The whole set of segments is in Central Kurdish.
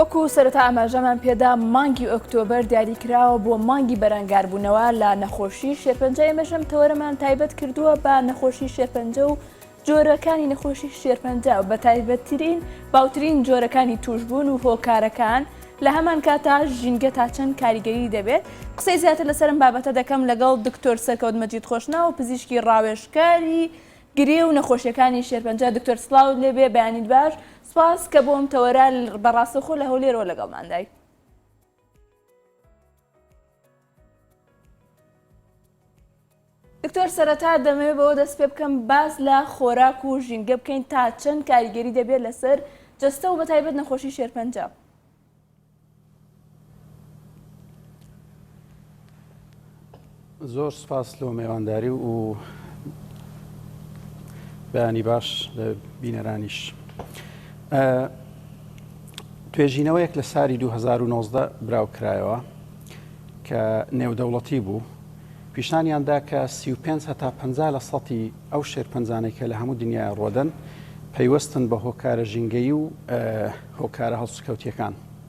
وەکو سەرەتا ئاماژەمان پێدا مانگی ئۆکتۆبەر دیاریکراوە بۆ مانگی بەرەنگاربوونەوە لە نەخۆشی شێرپەنجە ئێمەشم تەوەرەمان تایبەت کردووە بە نەخۆشی شێرپەنجە و جۆرەکانی نەخۆشی شێرپەنجە و بەتایبەتترین باوترین جۆرەکانی توشبوون و هۆکارەکان، لە هەمان کاتدا ژینگە تا چەند کاریگەری دەبێت، قسەی زیاتر لەسەر ئەم بابەتە دەکەم لەگەڵ دکتۆر سەرکەوت مەجید خۆشناو پزیشکی ڕاوێژکاری گرێ و نەخۆشیەکانی شێرپەنجە، دکتۆر سڵاوت لێ بێ بەیانیت باش، سوپاس کە بۆ ئەم تەوەرە بە ڕاستەوخۆ لە هەولێرەوە لەگەڵماندای. دکتۆر سەرەتا دەمەوێت بەوە دەست پێ بکەم باس لە خۆراک و ژینگە بکەین تا چەند کاریگەری دەبێت لەسەر جەستە و بەتایبەت نەخۆشی شێرپەنجە. زۆر سوپاس لۆ مێوانداری و بەیانی باش لە بینەرانیش. توێژینەوەیەک لە ساری 2019 براوکرایەوە کە نێودەوڵەتی بوو پیشانیاندا کە 35 هەتا 50 لە سەتی ئەو شێرپەنجانەی کە لە هەموو دنیای ڕۆدەن پەیوەستن بە هۆکارە ژینگەی و هۆکارە هەڵسوکەوتیەکان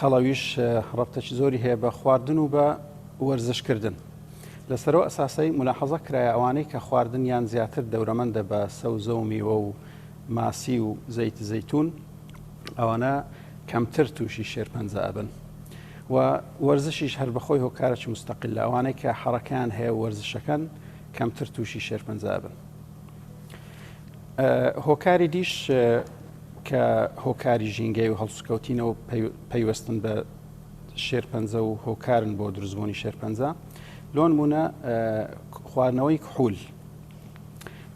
قەڵەویش ڕەبتەکی زۆری هەیە بە خواردن و بە وەرزش کردن لەسەرو ئەساسەی ملاحەزە کرایە ئەوانەی کە خواردنیان زیاتر دەورەمەندە بە سەوزە و میوە و ماسی و زەیت زەیتون ئەوانە کەمتر تووشی شێرپەنجە ئەبن و وەرزشیش هەر بەخۆی هۆکارەکی مستەقل لە ئەوانەی کە حەڕەکەیان هەیە وەرزشەکەن کەمتر تووشی شێرپەنجە ئەبن هۆکاری دیش کە هۆکاری ژینگەی و هەڵسوکەوتینەوە پەیوەستن بە شێرپەنجە و هۆکارن بۆ دروستبوونی شێرپەنجە لۆن بوونە خواردنەوەی کحول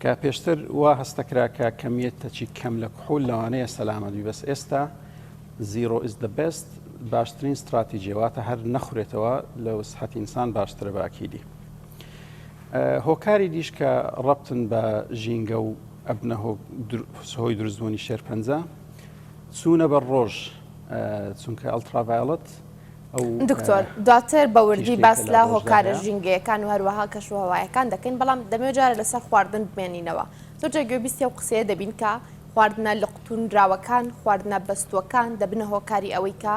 کە پێشتر وا هەستەکرا کە کەمیت تەچی کەم لە کحول لەوانەیە سەلامەبی بەس ئێستا زیرۆ ئیس دە بست باشترین استراتیجیواتە هەر نەخورێتەوە لە وسحەتی ئینسان باشترە باکیدی هۆکاری دیش کە ڕەبتن بە ژینگە و ئەبنە هۆی دروستبوونی شێرپەنجە چوونە بە ڕۆژ چونکە ئەلتراڤایڵەت دکتۆر دواتر بە وردی باس لە هۆکارە ژینگەیەکان و هەروەها کەشوهوایەکان دەکەین بەڵام دەمێ جارە لەسەر خواردن بمێنینەوە زۆرجە گوێبیستی و قسەیە دەبین کە خواردنە لە قوتونراوەکان خواردنە بەستوەکان دەبنە هۆکاری ئەوەی کە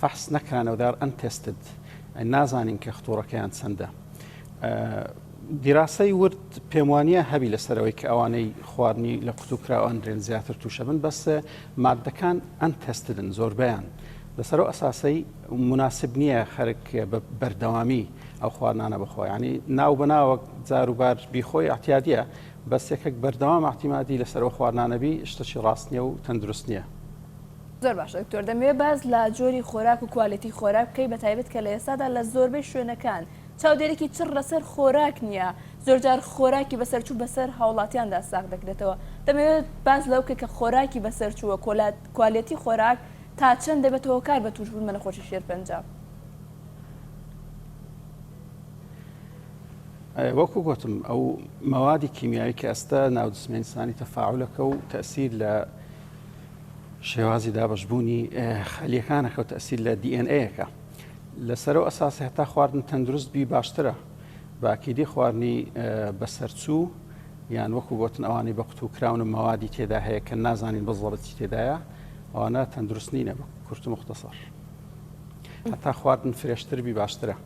فەحس نەکرانەو دار ئەن تێستد ئەن نازانین کە خطوڕەکەیان چەندە دیراسەی ورد پێموانە هەبی لەسەرەوەی کە ئەوانەی خواردنی لە قوتو کراوە ئەن درێن زیاتر تووشە بن بەس مادەکان ئەن تێستدن زۆربیان لەسەرەوە ئەساسەی مناسب نییە خەرک بە بەردەوامی ئەو خواردنانە بخۆیانی ناو بەناوەک جاروبار بیخۆی ئاتیادە بەسێکەک بەردەوام ئاحتیمادی لەسەرەوە خواردنانەبی شتەی ڕاستنیە و تەندروست نییە زۆر باشە دکتۆر دەمەوێت باس لە جۆری خۆراک و کوالێتی خۆراک بکەی بەتایبەت کە لە ئێستادا لە زۆربەی شوێنەکان چاودێرێکی چڕ لەسەر خۆراک نییە زۆرجار خۆراکی بەسەرچوو بەسەر هاوڵاتیاندا ساغ دەکرێتەوە دەمەوێت باس لەو بکە کە خۆراکی بەسەرچووە کۆلات کوالێتی خۆراک تا چەند دەبێت هۆکار بە تووشبوون بە نەخۆشی شێرپەنجە وەکو گوتم ئەو مەوادی کیمیایی کە ئەستە ناودسمێنسانی تەفاعلەکە و تەسیر لە شێوازی دابەشبوونی خەلیەکانە کەوتە ئەسیر لە دی ئێن ئەیەکە لەسەرو ئەساسی هەتا خواردن تەندروست بی باشترە باکیدی خواردنی بەسەرچوو یان وەکو گوتن ئەوانی بە قوتو کراون و مەوادی تێدا هەیە کە نازانین بەزڵەتی تێدایە ئەوانە تەندروست نینە بە کورت و مختەسەر هەتا خواردن فرێشتر بی باشترە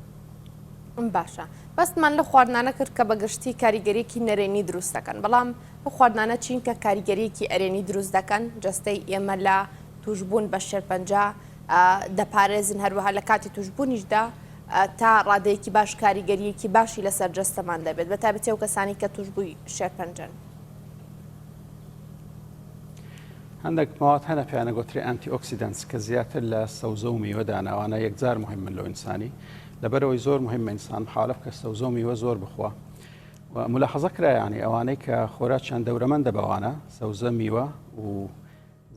باشە بەستمان لە خواردنانە کرد کە بەگشتی کاریگەریکی نەرێنی دروستەکەن بەڵام ئەو خواردنانە چین کە کاریگەریەکی ئەرێنی دروست دەکەن جەستەی ئێمە لە توشببوون بە شێرپەنجە دەپارێزن هەروەها لە کاتی توشببوونیشدا تا ڕادەیەکی باش کاریگەریەکی باشی لەسەر جەستەمان دەبێت بە تابەتی و کەسانی کە توشببووی شێرپەنجەن. هەندێک مواد هەنە پێیانە گوتری ئەنتی ئۆکسیدنس کە زیاتر لە سەوزە و میوە داناوانە یەکجار مهمن لە ئینسانی لەبەرەوەی زۆر مهمە ئینسان حالف کە سەوزە و میوە زۆر بخوا و ملاحەزە کرا یانی ئەوانەی کە خۆراکیان دەورەمەندە بەوانە سەوزە میوە و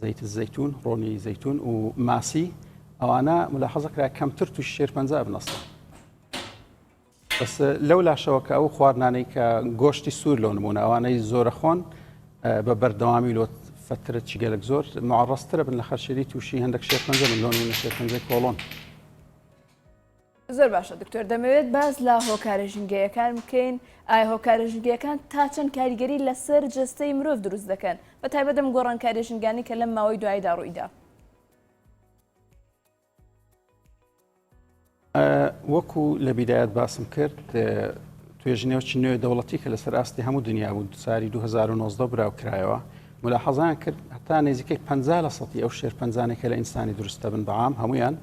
زەیت زەیتون ڕۆنی زەیتون و ماسی ئەوانە ملاحەزە کرا کەمتر توش شێر پنج بنەسە بەس لەو لاشەوە کە ئەو خواردنانەی کە گۆشتی سوور لەو نمونە ئەوانەی زۆرە خۆن بە بەردەوامی لۆت فترە چگەلک زۆر معڕسترە بن لە خەرشێری تووشی هەندێک شێر پنج ملۆن و شێر پنج کۆڵۆن زۆر باشە دکتۆر دەمەوێت باس لە هۆکارە ژینگەیەکان بکەین ئایا هۆکارە ژینگەکان تا چەند کاریگەری لەسەر جەستەی مرۆڤ دروست دەکەن بە تایبەتم گۆڕانکاری ژینگانی کە لەم ماوەی دواییدا ڕوویدا وەکو لە بیدایەت باسم کرد توێژنێوچی نوێ دەوڵەتی کە لەسەر ئاستی هەموو دنیا بوو ساری 2009 براو کرایەوە ملا حەزان کرد هەتا نزیکەی پ لە سەی ئەو شێر پنجانێکە لە ئینسانی دروستە بن بەام هەمویان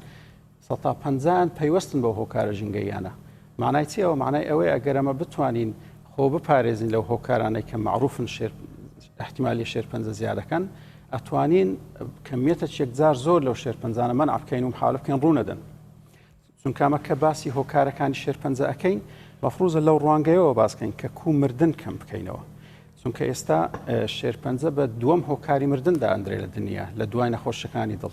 سەتا پەنجایان پەیوەستن بەو هۆکارە ژینگەییانە. مەعنای چیە ئەوە؟ مەعنای ئەوەیە ئەگەر ئەمە بتوانین خۆ بپارێزین لەو هۆکارانەی کە مەعروفن شێر احتیمالی شێرپەنجە زیادەکەن، ئەتوانین کەمیەتە چێکجار زۆر لەو شێرپەنجانە مەنع بکەین و محاولە بکەین ڕوونەدەن. چونکامە کە باسی هۆکارەکانی شێرپەنجە ئەەکەین مەفروزە لەو ڕوانگەیەوە باسکەین کە کو مردن کەم بکەینەوە. چونکە ئێستا شێرپەنجە بە دووەم هۆکاری مردن دادرێ لە دنیا لە دوای نەخۆشەکانی دڵ.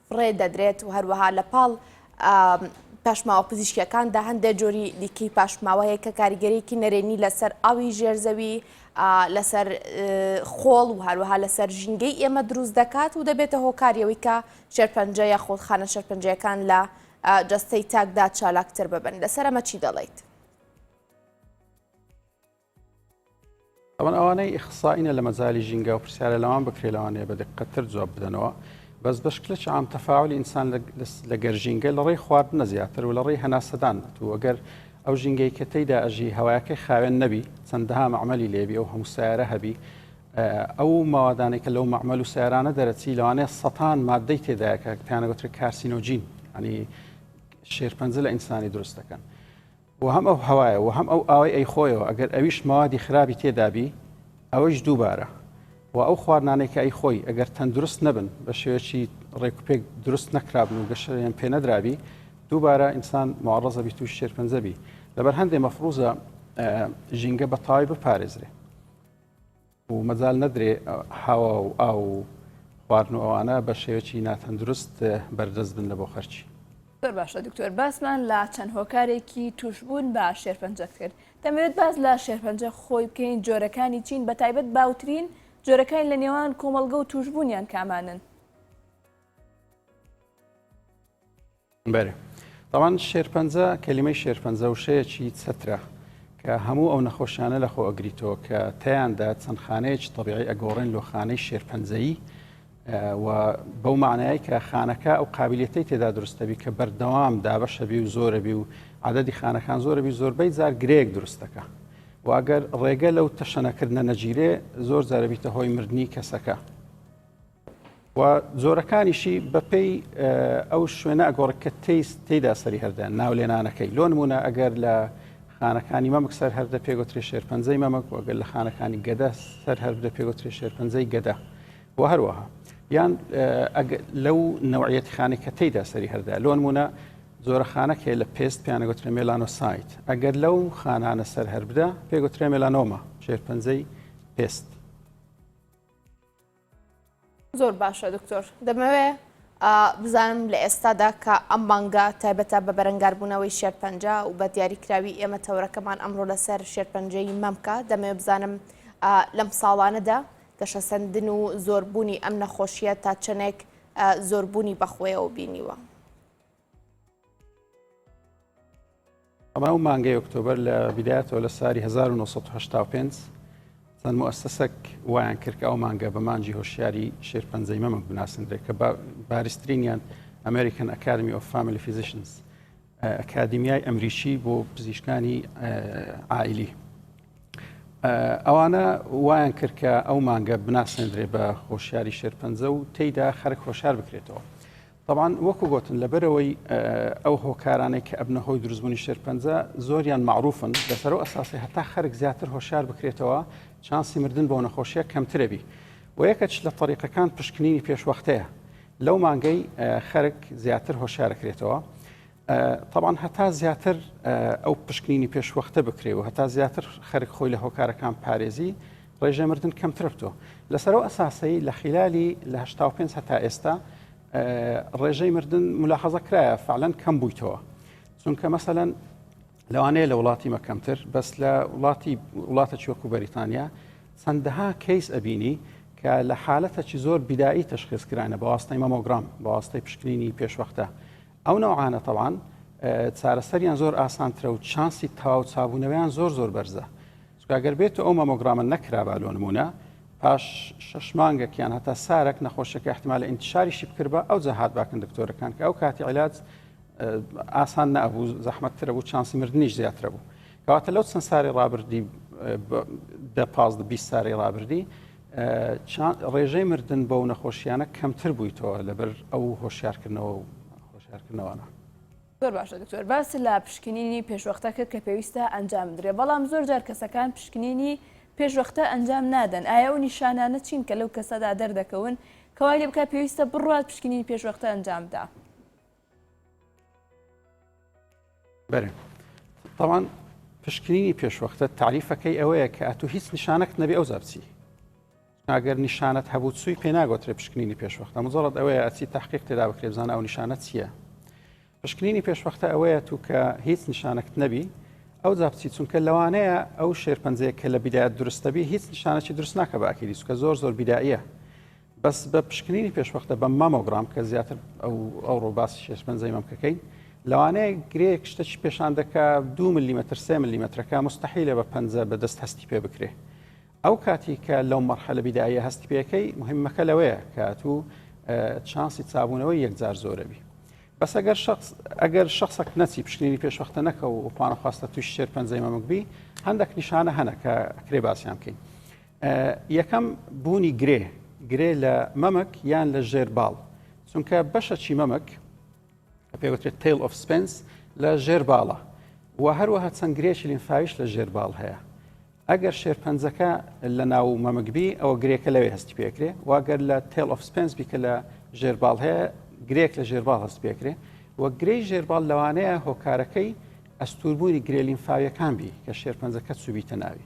ڕێ دەدرێت و هەروەها لە پاڵ پاشماوە پزیشکیەکاندا هەندێک جۆری دیکەی پاشماوە هەیە کە کاریگەریکی نەرێنی لەسەر ئاوی ژێرزەوی لەسەر خۆڵ و هەروەها لەسەر ژینگەی ئێمە دروست دەکات و دەبێتە هۆکاریەوەی کە شێرپەنجە یا خۆڵخانە شەرپەنجەکان لە جەستەی تاکدا چالاکتر ببن لەسەر ئەمە چی دەڵیت؟ ئەوان ئەوانەی ئیخسائینە لە مەجالی ژینگە و پرسیارە لەوان بکرێت لەوانەیە بە دقەتر جواب بدەنەوە بەس بە شکلە چام تەفاعلی ئینسان لە گەر ژینگە لە ڕێی خواردنە زیاتر و لە ڕێی هەناسەدان بێت و ئەگەر ئەو ژینگەی کە تێیدا ئەژی هەوایەکەی خاوێن نەبی چەندەها مەعمەلی لێبی ئەو هەموو سیارە هەبی ئەو ماوادانێک کە لەو مەعمەل و سیارانە دەرەچی لەوانەیە سەتان مادەی تێدایەکە پێیانەگوترێت کارسینۆجین ئەنی شێرپەنجە لە ئینسانی دروست دەکەن. وە هەم ئەو هەوایە وە هەم ئەو ئاوەی ئەیخۆیەوە ئەگەر ئەویش مەوادی خراپی تێدابی ئەوەیش دووبارە وە ئەو خواردنانەی کە ئەیخۆی ئەگەر تەندروست نەبن بە شێوەیەکی ڕێکوپێک دروست نەکرابن و گەشەیان پێ نەدرابی دووبارە ئینسان معڕەزە بی تووش شێرپەنجە بی لەبەر هەندێ مەفروزە ژینگە بە تەواوی بپارێزرێ و مەجال نەدرێ هەوا و ئاو و خواردن و ئەوانە بە شێوەیەکی ناتەندروست بەردەست بن لە بۆ خەرکی. زۆر باشە دکتۆر باسمان لە چەند هۆکارێکی توشبوون بە شێرپەنجەت کرد دەمەوێت باس لە شێرپەنجە خۆی بکەین جۆرەکانی چین بە تایبەت باوترین جۆرەکانی لە نێوان کۆمەڵگە و توشبوونیان کامانن؟ بەێ تاوان شێرپەنجە کەلیمەی شێرپەنجە و شەیەکی چەترە کە هەموو ئەو نەخۆشیانە لە خۆ ئەگریتەوە کە تیاندا چەند خانەیەکی طبیعی ئەگۆڕێن لۆ خانەی شێرپەنجەیی و بەو معنای کە خانەکە ئەو قابلیەتی تێدا دروستەبی کە بەردەوام دابەشەبی و زۆرەبی و عادەدی خانەکان زۆرەبی زۆربەی جار گرێک دروستەکە واگەر ڕێگە لەو تەشەنەکردە نەگیرێ زۆر جارەبیتە هۆی مردنی کەسەکە و جۆرەکانیشی بە پێی ئەو شوێنە ئەگۆڕێک کە تیست تێدا سەری هەردە ناو لێنانەکەی لۆ نمونە ئەگەر لە خانەکانی مەمک سەر هەردە پێگوتری شێرپەنجەی مەمک وەگەل لە خانەکانی گەدە سەر هەر بدە پێگوتری شێرپەنجەی گەدە و هەروەها یان لەو نەوعەتی خانێک کە تێدا سەری هەردا لۆن مونە زۆرەخانەک هەیە لە پێست پیانەگوترێ مێلانۆ سایت ئەگەر لەو خانانە سەر هەر بدە پێگوترێ مێلانۆمە شێرپەنجەی پێست زۆر باشە دکتۆر دەمەوێ بزانم لە ئێستادا کە ئەم مانگە تایبەتە بە بەرەنگاربوونەوەی شێرپەنج و بە دیاریکراوی ئێمە تەورەکەمان ئەمڕۆ لەسەر شێرپەنجەی مەمکە دەمەوێ بزانم لەم ساڵانەدا گەشەسەندن و زۆربوونی ئەم نەخۆشیە تا چەنێک زۆربوونی بەخۆیەوە بینیوە. ڕاو مانگەی ئۆکتۆبەر لە بیدایەتەوە لە ساری 1995 چەند موسەسەک وایان کرد ئەو مانگە بە مانجی هۆشیاری شێرپەنجەی مەمەک بناسندرێت کە بارسترینیان ئەمریکن ئەکادمی ئۆف فامیلی فیزیشنز ئەکادیمیای ئەمریکی بۆ پزیشکانی ئایلی ئەوانە وایان کرد کە ئەو مانگە بناسەندرێ بە هۆشیاری شێرپەنجە و تێیدا خەرک هۆشار بکرێتەوە تەبعەن وەکو گۆتن لەبەرئەوەی ئەو هۆکارانەی کە ئەبنە هۆی دروستبونی شێرپەنجە زۆریان مەعروفن لەسەر ئەو ئەساسەی هەتا خەرک زیاتر هۆشیار بکرێتەوە چانسی مردن بەو نەخۆشیە کەمترەبی و یەکەچ لە تەریقەکان پشکنینی پێشوەختەیە لەو مانگەی خەرک زیاتر هۆشارەکرێتەوە تەبعەن هەتا زیاتر ئەو پشکنینی پێشوەختە بکرێ و هەتا زیاتر خەرک خۆی لە هۆکارەکان پارێزی ڕێژەی مردن کەمترە بتۆ لەسەرەوە ئەساسەی لە خلالی لە 5 هەتا ئێستا ڕێژەی مردن ملاحەزە کرایە فعلەن کەم بوویتەوە چونکە مەسەەن لەوانەیە لە وڵاتی مەکەمتر بەس لە وڵاتی وڵاتە چۆکو بەریتانیا چەندەها کەیس ئەبینی کە لە حالەتەکی زۆر بیدایی تەشخصکرانە بەواستای مەمۆگرام بەواستای پشکنینی پێشوەختە ئەو نەوعانە تەبعەن چارەسەریان زۆر ئاسانترە و چانسی تەواو چابوونەوەیان زۆر زۆر بەرزە چکە گەر بێت و ئەو مەمۆگرامە نەکرابا لۆ نمونە پاش شش مانگەکیان هەتا سارەک نەخۆشیەکە احتمال لە ئینتشاریشی بکرد بە ئەو جەهات باکن دکتۆرەکان کە ئەو کاتی علاج ئاسان نەبوو زەحمەتترە بوو چانسی مردنیش زیاترە بوو کەواتە لەو چەند ساری ڕابردی دە پازدە بیست ساری ڕابردی ڕێژەی مردن بەو نەخۆشیانە کەمتر بوویتەوە لەبەر ئەو هۆشیارکردنەوە و هۆشیارکردنەوەە. زۆر باشە دکتۆر باس لە پشکنینی پێشوەختە کرد کە پێویستە ئەنجام بدرێ بەڵام زۆر جار کەسەکان پشکنینی پێشوەختە ئەنجام نادەن ئایا و نیشانانە چین کە لەو کەسەدا دەردەکەون کەوای لێ بکە پێویستە بڕات پشکنینی پێشوەختە ئەنجامدا. بەێ تاوان پشکنینی پێشوەختە تعریفەکەی ئەوەیە کە ئەتو هیچ نیشانەت نەبێ ئەو زەبچی ئەگەر نیشانەت هەبوو سوی پێ ناگۆترێ پشکنینی پێشوەختە مزڵت ئەوەیە ئەچی تحقیق تێدا بکرێ بزانە ئەو نیشانە چییە پشکنینی پێشوەختە ئەوەیە تو کە هیچ نیشانەت نەبی ئەو زابچی چونکە لەوانەیە ئەو شێرپەنجەیە کە لە بیدایەت درستەبی هیچ نیشانەی درست ناکە باکیری چکە زۆر زۆر بیداییە بەس بە پشکنینی پێشوەختە بە مامۆگرام کە زیاتر ئەو ئەوڕۆ باسی شێشپەنجەی مەمکەکەین لەوانەیە گرێک شتەکی پێشان دەکا دو ملیمەتر سێ ملیمەترەکە مستحیلە بە پەنجە بەدەست هەستی پێ بکرێ ئەو کاتی کە لەو مەرحەلە بیدایە هەستی پێەکەی مهمەکە لەوەیە کات و چانسی چابوونەوەی یەکجار زۆرەبی بەس ئەگەر شخص ئەگەر شخصەک نەچی پشکنینی پێشوەختە نەکە و پانەخواستە توش شێر پەنجەی مەمک بی هەندێک نیشانە هەنە کە کرێ باسیان بکەین یەکەم، بوونی گرێ، گرێ لە مەمک یان لە ژێر باڵ، چونکە بەشەکی مەمک پێوترێت تیل ئۆف سپنس لە ژێر باڵە و هەروەها چەند گرێکی لینفاویش لە ژێر باڵ هەیە. ئەگەر شێرپەنجەکە لە ناو مەمکبی ئەوە گرێکە لەوێ هەستی پێکرێ واگەر لە تێل ئۆف سپنس بیکە لە ژێرباڵ هەیە گرێک لە ژێرباڵ هەست پێکرێ و گرەی ژێرباڵ لەوانەیە هۆکارەکەی ئەستوربوونی گرێلینفاویەکان بی کە شێرپەنجەکە چوبیتە ناوی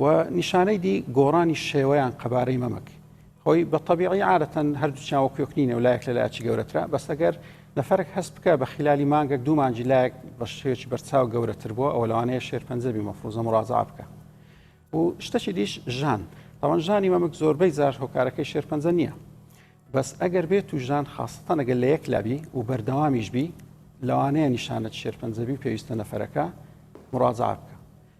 و نیشانەی دی گۆڕانی شێوەیان قەبارەی مەمک خۆی بە طبیعی عادەتەن هەردووچیان وەکوێک نینە و لایەک لە لایچی گەورەترە بەسەگەر لەفەرک هەست بکە بە خلالی مانگەک دوو مانجی لایەک بە شێوێکی بەرچاو گەورەتر بووە ئەو لەوانەیە شێرپەنجەبی مەفروزە مڕازا بکە و شتەکی دیش ژان ئەوان ژانی مەمک زۆربەی جار هۆکارەکەی شێرپەنجە نییە بەس ئەگەر بێت و ژان خاستەنەگە لە یەک لابی و بەردەوامیش بی لەوانەیە نیشانەت شێرپەنجەبی پێویستە نەفەرەکە مڕازا بکە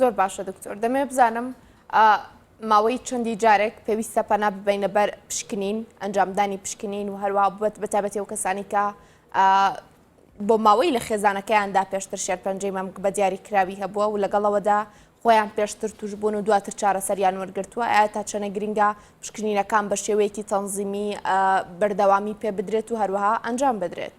زۆر باشە دکتۆر دەمێ بزانم ماوەی چەندی جارێک پێویستە پەنا ببینە بەر پشکنین ئەنجامدانی پشکنین و هەروە بەت بەتابەتی و کەسانی کە بۆ ماوەی لە خێزانەکەیاندا پێشتر شێرپەنجەی مەمک بە دیاری کراوی هەبووە و لەگەڵەوەدا خۆیان پێشتر توشببوون و دواتر چارەسەریان وەرگتووە ئایا تا چەنە گرنگە پشکنینەکان بە شێوەیەکی تەنزیمی بەردەوامی پێ بدرێت و هەروەها ئەنجام بدرێت.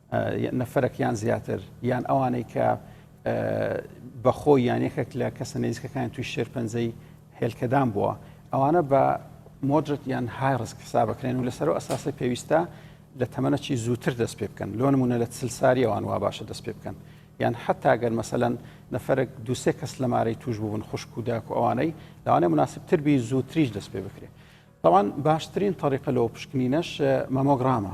نەفەرەک یان زیاتر یان ئەوانەی کە بەخۆ یان یەکێک لە کەسە نزیکەکان توی شێرپەنجەی هێلکەدان بووە ئەوانە بە مۆدرت یان های ڕسک حساب بکرێن و لەسەر ئەساسی پێویستە لە تەمەەکی زووتر دەست پێ بکەن لۆ نمونە لە چل ساریەوان وا باشە دەست پێ بکەن یان حتا گەر مەسەەن نەفرەك دوسێ کەس لەمارەی توش بوون خوشک و داک و ئەوانەی لەوانێ مناسبتر بی زووتریش دەست پێ بکرێت طبعاان باشترین طریقە لەوە پشکنینەش مەمۆگرامە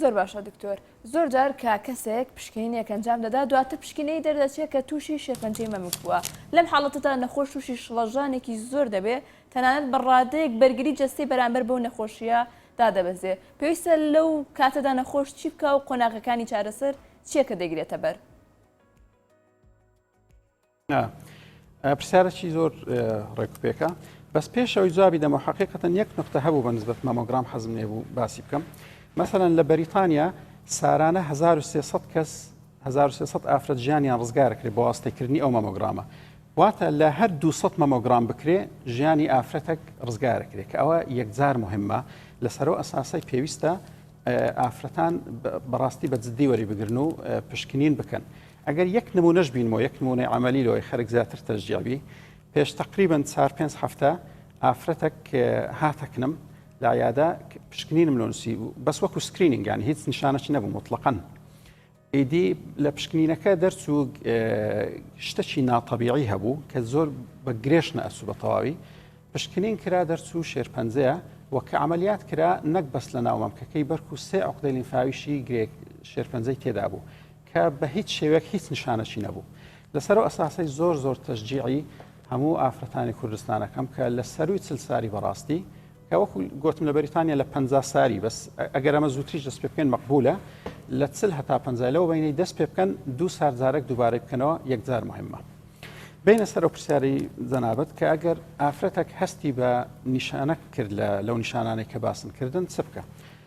زۆر باشە دکتۆر زۆر جار کە کەسێک پشکنینێک ئەنجام دەدا دواتر پشکنەی دەردەچێت کە تووشی شێرپەنجەی مەمک بووە لەم حاڵەتەدا نەخۆش تووشی شڵەژانێکی زۆر دەبێ تەنانەت بە ڕادەیەک بەرگری جەستەی بەرامبەر بەو نەخۆشیە دادەبەزێ پێویستە لەو کاتەدا نەخۆش چی بکە و قۆناغەکانی چارەسەر چییە کە دەگرێتە بەر پرسیارەکی زۆر ڕێکوپێکە بەس پێشەوەی جوابی دەمە حقیقەتەن یەک نقطە هەبوو بە نسبەت مامۆگرام حەزم لێ بوو باسی بکەم مثلا لە بەریتانیا سارانە 1300 کەس 1300 ئافرەت ژیانیان ڕزگارکرێت بۆ واستەکردنی ئەو مامۆگرامە واتە لە هەر 200 مامۆگرام بکرێ ژیانی ئافرەتەک ڕزگارکرێت کە ئەوە یەکجار مهمە لەسەرەوە ئەساسای پێویستە ئافرەتان بەڕاستی بە جددی وەری بگرن و پشکنین بکەن ئەگەر یەک نموونەش بینمەوە یەک نموونەی عەمەلی لەوەی خەرک زیاتر تەشجیع بی پێش تەقریبەن چار پێنج هەفتە ئافرەتەک هاتە کنم لە عیادە پشکنینم لۆ نووسی بوو بەس وەکو سکرینینگان هیچ نیشانەچی نەبوو مطلقەن ئیدی لە پشکنینەکە دەرچوو شتەکی ناتەبیعی هەبوو کە زۆر بە گرێش نەئەسو بە تەواوی پشکنین کرا دەرچوو شێرپەنجەیە وە کە عملیات کرا نەک بەس لە ناومەمکەکەی بەرکو سێ عقدەی لیمفاویشی گرێک شێرپەنجەی تێدا بوو کە بە هیچ شێوەیەک هیچ نیشانەکی نەبوو. لەسەر ئەو ئەساسەی زۆر زۆر تەشجیعی هەموو ئافرەتانی کوردستان ئەکەم کە لە سەرووی چل ساری بەڕاستی کە وەکو گۆتم لە بەریتانیا لە پەنجا ساری بەس ئەگەر ئەمە زووتریش دەست پێ بکەین مەقبولە لە چل هەتا پەنجای لەوە بینەی دەست پێ بکەن دوو سار جارێک دووبارەی بکەنەوە یەکجار مهمە. بینە سەرەوە پرسیاری جەنابەت کە ئەگەر ئافرەتەک هەستی بە نیشانە کرد لە لەو نیشانانەی کە باسن کردن چ بکە؟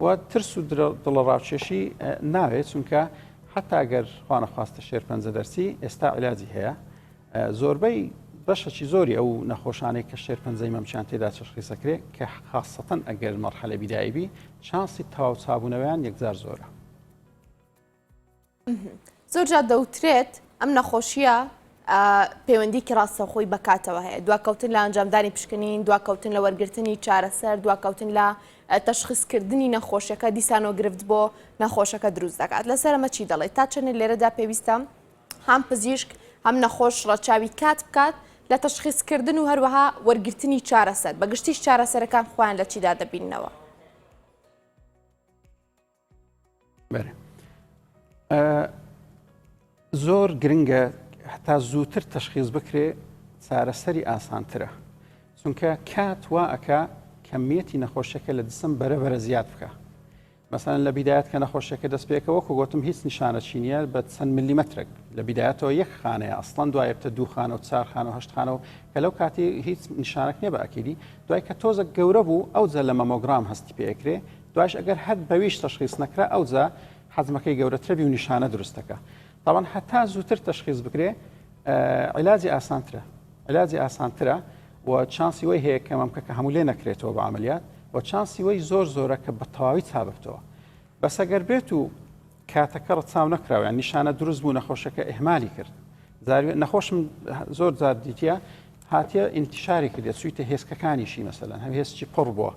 و ترس و دڵەڕاکێشی ناوێت چونکە حتا گەر خوانەخواستە شێرپەنجە دەرسی ئێستا علاجی هەیە زۆربەی بەشەکی زۆری ئەو نەخۆشانەی کە شێر پەنجەی مەمچان تێدا چشخیسەکرێ کە خاستەن ئەگەر مەرحەلە بیدایبی چانسی تەواو چابوونەوەیان یەکجار زۆرە زۆرجار دەوترێت ئەم نەخۆشیە پەیوەندیکی ڕاستەخۆی بەکاتەوە هەیە دواکەوتن لە ئەنجامدانی پشکنین دواکەوتن لە وەرگرتنی چارەسەر دواکەوتن لە تەشخصکردنی نەخۆشیەکە دیسانۆ گرفت بۆ نەخۆشەکە دروست دەکات لەسەرمە چی دەڵێت تا چەنە لێرەدا پێویستە هەم پزیشک هەم نەخۆش ڕەچاوی کات بکات لە تەشخصکردن و هەروەها وەرگرتنی چارەسەر بەگشتیش چارەسەرەکان خۆیان لە چیدا دەبینەوە. زۆر گرنگە هەتا زووتر تەشخیز بکرێ چارەسەری ئاسانترە چونکە کات وا ئەک کەمیەتی نەخۆشیەکە لە جسم بەرەبەرە زیاد بکە مەسەن لە بیدایەت کە نەخۆشیەکە دەست پێکەوە کە گوتم هیچ نیشانە چینە بە چەند ملیمەترێک لە بیدایەتەوە یەک خانەیە ئەسڵەن دوای بتە دووخانە و چارخانە و هەشتخانەوە کە لەو کاتی هیچ نیشانەک نیە بە ئەکیدی دوای کە تۆزە گەورە بوو ئەو جە لە مەمۆگرام هەستی پێکرێ دوایش ئەگەر هەر بەویش تەشخیس نەکرا ئەوجا حەجمەکەی گەورەترە بی و نیشانە دروست دەکا تاوان هەتا زووتر تەشخیز بکرێ علاجی ئاسانترە علاجی ئاسانترە و چانسی وی هەیە کە مەمکەکە هەموو لێ نەکرێتەوە بە عملیات و چانسی وی زۆر زۆرە کە بە تەواوی چاببتەوە بەسەگەر بێت و کاتەکە ڕچاو نەکراویان نیشانە دروست بوو نەخۆشەکە ئهمالی کرد زاری نەخۆشم زۆر زار دیتە هاتیە ئینتیشاری کردێت سویتە هێستکەکانیشی مەسەلەن هەم هێستی قڕ بووە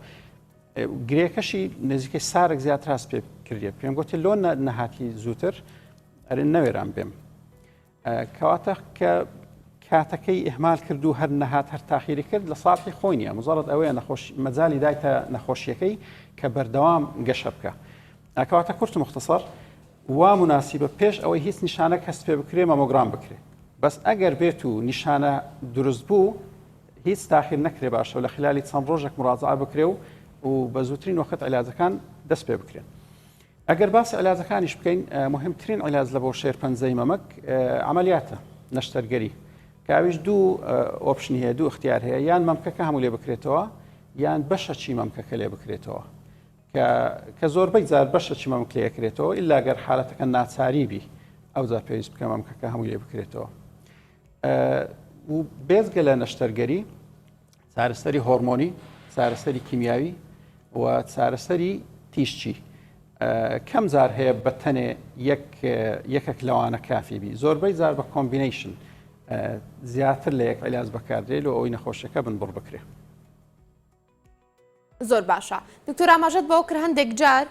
گرێکەشی نزیکەی سارک زیاتر هەست پێ کردێت پێم گوتی لۆ نەهاتی زووتر ئەرێ نەوێران بێم کەواتە کە کاتەکەی ئهمال کرد و هەر نەهات هەر تاخیری کرد لە ساڵحی خۆی نیە مزارت ئەوەیە نەخۆش مەجای دایتە نەخۆشیەکەی کە بەردەوام گەشە بکە ئەکەواتە کورت مختصر وا مناسیبە پێش ئەوەی هیچ نیشانە کەس پێ بکرێ مەمۆگرام بکرێت بەس ئەگەر بێت و نیشانە دروست بوو هیچ تاخیر نەکرێ باشە لە خلالی چەند ڕۆژێک مڕازعە بکرێ و و بە زووترین وەخت علاجەکان دەست پێ بکرێن. ئەگەر باس علاجەکانیش بکەین مهمترین علاج لە بۆ شێرپەنجەی مەمەک عملیاتە نەشتەرگەری کاویش دوو ئۆپشن هەیە دوو اختیار هەیە یان مەمکەکە هەموو لێ بکرێتەوە یان بەشە چی مەمکەکە لێ بکرێتەوە کە زۆربەی زار بەشە چی مەمک لێ کرێتەوە ئللاگەر حالەتەکە ناچاری بی ئەوجا پێویست بکە مەمکەکە هەموو لێ بکرێتەوە و بێزگە لە نەشتەرگەری چارەسەری هۆرمۆنی چارەسەری کیمیاوی و چارەسەری تیشچی کەم زار هەیە بە تەنێ یەکێک لەوانە کافی بی زۆربەی زار بە کۆمبینیشن زیاتر لە یەک علاج بەکاردێت و ئەوی نەخۆشەکە بن بڕ بکرێت زۆر باشە دکتۆر ئاماژەت بەوە کرد هەندێک جار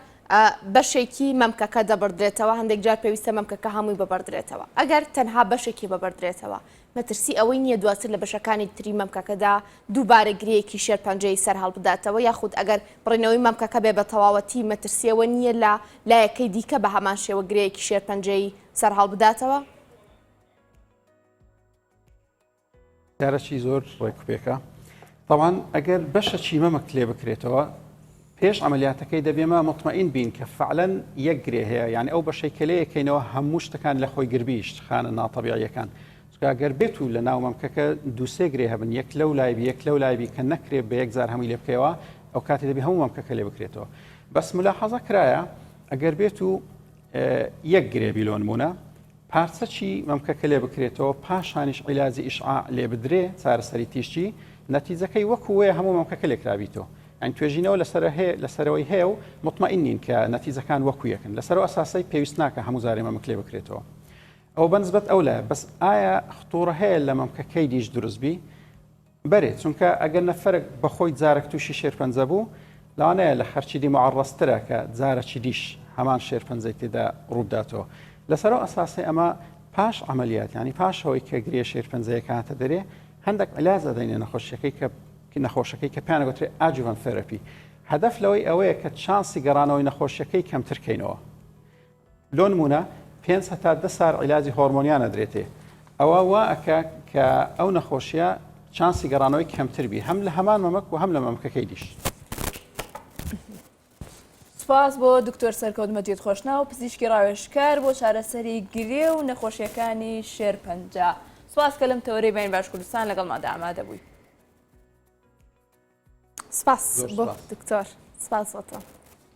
بەشێکی مەمکەکە دەبڕدرێتەوە هەندێک جار پێویستە مەمکەکە هەمووی ببڕدرێتەوە ئەگەر تەنها بەشێکی ببڕدرێتەوە مەترسی ئەوەی نییە دواتر لە بەشەکانی تری مەمکەکەدا دووبارە گرەیەکی شێرپەنجەی سەر هەڵبداتەوە یاخود ئەگەر بڕینەوەی مەمکەکە بێ بە تەواوەتی مەترسیەوە نییە لە لایەکەی دیکە بە هەمان شێوە گرەیەکی شێرپەنجەی سەر هەڵبداتەوە کارەکی زۆر ڕێکوپێکە تاوان ئەگەر بەشە چیمە مەک لێ بکرێتەوە پێش عملیاتەکەی دەبێمە مطمئین بین کە فعلەن یەک گرێ هەیە یعنی ئەو بەشەی کە لێ یەکەینەوە هەموو شتەکان لە خۆی گربیشت خانە ناتەبیعیەکان گەر بێت و لە ناو مەمکەکە دووسێ گرێ هەبن یەک لەو لایبی یەک لەو لایبی کە نەکرێ بە یەکجار هەمووی لێ بکەوە ئەو کاتی دەبی هەموو مەمکەکە لێ بکرێتەوە بەس ملا حەزە کرایە ئەگەر بێت و یەک گرێ بیلۆنمونە پارچەکی مەمکەکە لێ بکرێتەوە پاشانیش عیلاجی ئیشعاع لێ بدرێ چارەسەری تیشکی نەتیجەکەی وەکو وەیە هەموو مەمکەکە لێکرابیتەوە یان توێژینەوە لەسەر هەیە لەسەرەوەی هەیە و مطمئین نین کە نەتیجەکان وەکو یەکن لەسەرەوە ئەساسەی پێویست ناکە هەموو جارێ مەمک لێ بکرێتەوە ئەو بەنسبەت ئەو لایە بەس ئایا خطوڕە هەیە لە مەمکەکەی دیش دروستبی بەرێ چونکە ئەگەر نەفەرەک بەخۆی جارەک توشی شێرپەنجە بوو لەوانەیە لە خەرکی دی معەڕەز ترە کە جارەکی دیش هەمان شێرپەنجەی تێدا ڕووبداتەوە لەسەر ئەو ئەساسەی ئەمە پاش عملیات یعنی پاش ئەوەی کە گرێ شێرپەنجەیە کاتە دەرێ هەندێک علاج ئەدەینە نەخۆشیەکەی کە نەخۆشەکەی کە پێیان گوترێ ئاجوڤەن ثێرەپی هەدەف لەوەی ئەوەیە کە چانسی گەڕانەوەی نەخۆشیەکەی کەمترکەینەوە لۆنمونە پێنج هەتا دە سار عیلاجی هۆرمۆنیان ئەدرێتێ ئەوە وا ئەکا کە ئەو نەخۆشیە چانسی گەڕانەوەی کەمتر بی هەم لە هەمان مەمەک و هەم لە مەمکەکەی دیش. سپاس بۆ دکتۆر سەرکەوت مەجید خۆشناو پزیشکی ڕاوێشکار بۆ چارەسەری گرێ و نەخۆشیەکانی شێرپەنجە سپاس کە لەم تەوەری بین باش کوردستان لەگەڵ مادا ئامادە بووی سپاس بۆ دکتۆر سپاس بۆ تۆ.